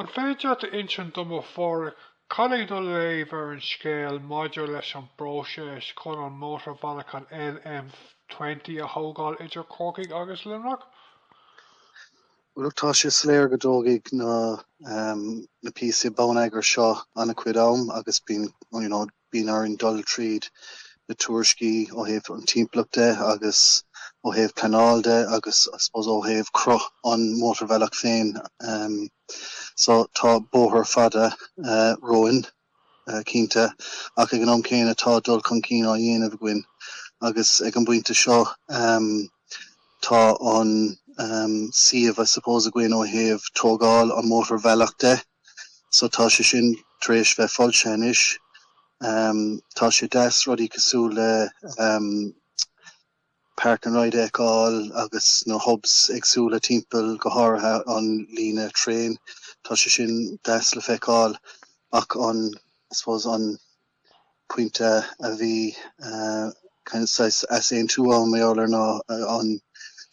An féidir leat insint dom a Phádraic cad é do léamh ar an scéal maidir leis an bpróiseas chun an mótarbhealach an M20 a thógáil idir Corcaigh agus Luimneach? Bhuel tá sé soiléir go dtógfaidh na píosaí bonneagair seo an-chuid am agus bíonn, you know, Bíonn orainn dul tríd na tuairiscí ó thaobh an timpeallacht de agus ó thaobh pleanáil de agus I suppose ó thaobh cruth an mótarbhealach féin. So tá bóthar fada romhainn cinnte ach ag an am céanna tá dul chun cinn á dhéanamh againn agus ag an bpointe seo tá an suíomh I suppose againn ó thaobh tógáil an mótarbhealach de. so tá sé sin tar éis bheith foilsithe anois. Tá sé deas rudaí cosúil le Park and Ride a fheiceáil agus na hubs éagsúla timpeall go háirithe an líne traen, tá sé sin deas le feiceáil ach an, I suppose, an. pointe a bhí saghas easaontú ann mar gheall ar ná an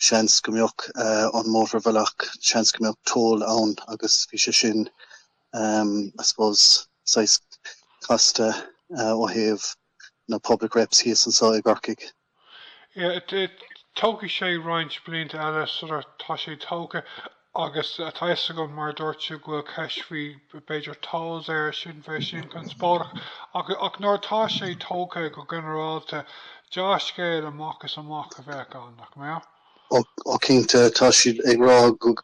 seans go mbeadh an mótarbhealach seans go mbeadh toll ann agus bhí sé sin um, I suppose saghas casta uh, ó thaobh na public reps thíos anseo i gCorcaigh. Tógfaidh sé roinnt blianta eile sular tá sé tógtha agus tá fhios agam mar a dúirt tú go bhfuil ceist faoi b'fhéidir tolls air sin, bheadh sin conspóideach ach nuair atá sé tógtha go ginearálta deá-scéal amach is amach a bheadh ann, nach mbeadh? Ó cinnte, tá siad ag rá go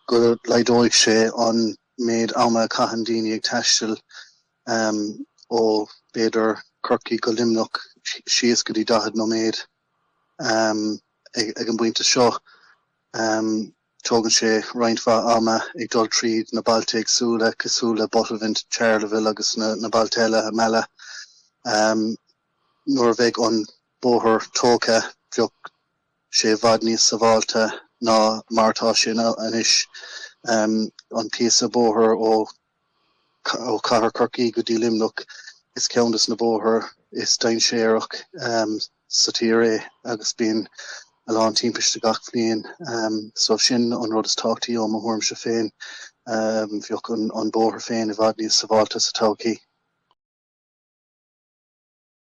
laghdóidh sé an méid ama a chaitheann daoine ag taisteal. Amm, ó, b'fhéidir Corcaigh go Luimneach síos go dtí daichead nóiméad. Amm, ag, ag an bpointe seo, amm, tógann sé roinnt mhaith ama ag dul tríd na bailte éagsúla cosúil le Buttevant, Charleville agus na, na bailte eile i Mala. Amm, nuair a bheidh an bóthar tógtha, bheadh sé i bhfad níos sábháilte ná mar atá sé anois. Amm, an píosa bóthair ó. Ó Cathair Corcaí go dtí Luimneach is ceann des na bóithre is dainséarach sa tír é agus bíonn a lán timpiste gach bhliain so sin an rud is tábhachtaí ó mo thuairmse féin. Bheadh an bóthar féin i bhfad níos sábháilte sa todhchaí.